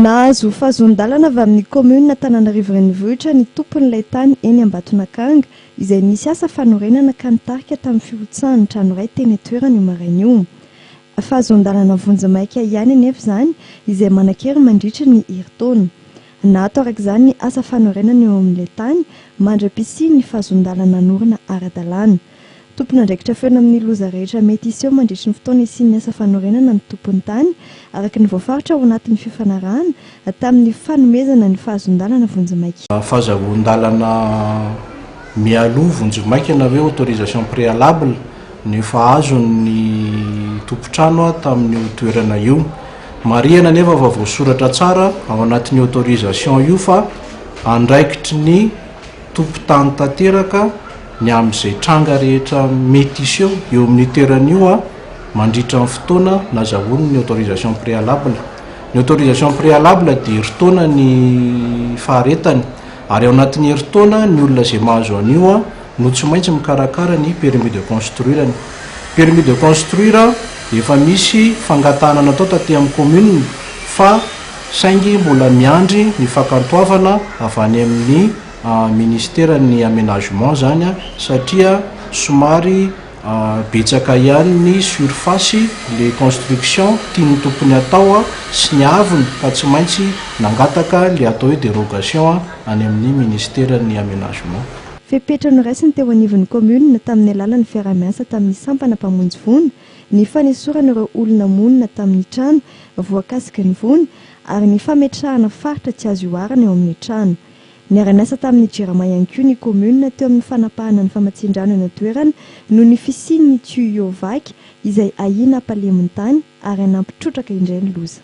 Nahazo fahazoan-dalana avy amin'ny kaominina Antananarivo Renivohitra ny tompon'ilay tany eny Ambatonakanga izay nisy asa fanorenana ka nitarika tamin'ny firotsahan'ny trano iray teny an-toerana io maraina io. Fahazoan-dalana vonjimaika ihany anefa izany izay manan-kery mandritry ny herintaona. Naato araka izany ny asa fanorenana eo amin'ilay tany mandra-pisian'ny fahazoan-dalana hanorina ara-dalàna. Tompon'andraikitra feno amin'ny loza rehetra mety hiseho mandritry ny fotoana hisian'ny asa fanorenana ny tompon'ny tany, araka ny voafaritra ao anatin'ny fifanarahana tamin'ny fanomezana ny fahazoan-dalana vonjimaika. Fahazahoan-dalana mialoha vonjimaika na hoe autorisation préalable no efa azon'ny tompon-trano tamin'io toerana io. Marihana anefa fa voasoratra tsara ao anatin'io autorisation io fa andraikitry ny. tompon-tany tanteraka ny amin'izay tranga rehetra mety hiseho eo amin'io toerana io mandritra ny fotoana nazahoany ny autorisation préalable. Ny autorisation préalable dia herintaona ny faharetany ary ao anatin'ny herintaona ny olona izay mahazo an'io no tsy maintsy mikarakara ny permis de construire-ny. Ny permis de construire dia efa misy fangatahana natao taty amin'ny commune fa saingy mbola miandry ny fakantoavana avy any amin'ny Ministeran'ny Aménagement izany satria somary betsaka ihany ny surface le construction tian'ny tompony atao sy ny avony ka tsy maintsy nangataka ilay atao hoe dérogation any amin'ny Ministeran'ny Aménagement. Fepetra noraisiny teo anivon'ny Commune tamin'ny alalan'ny fiaraha-miasa tamin'ny sampana mpamonjy voina ny fanesorana ireo olona monina tamin'ny trano voakasiky ny voina ary ny fametrahana faritra tsy azo ihoarana eo amin'ny trano. Niara-niasa tamin'ny Jirama ihany koa ny kaominina teo amin'ny fanapahana ny famatsian-drano eny an-toerana noho ny fisian'ny tuyaux vaky izay ahiana hampalemy ny tany ary hanampy trotraka indray ny loza.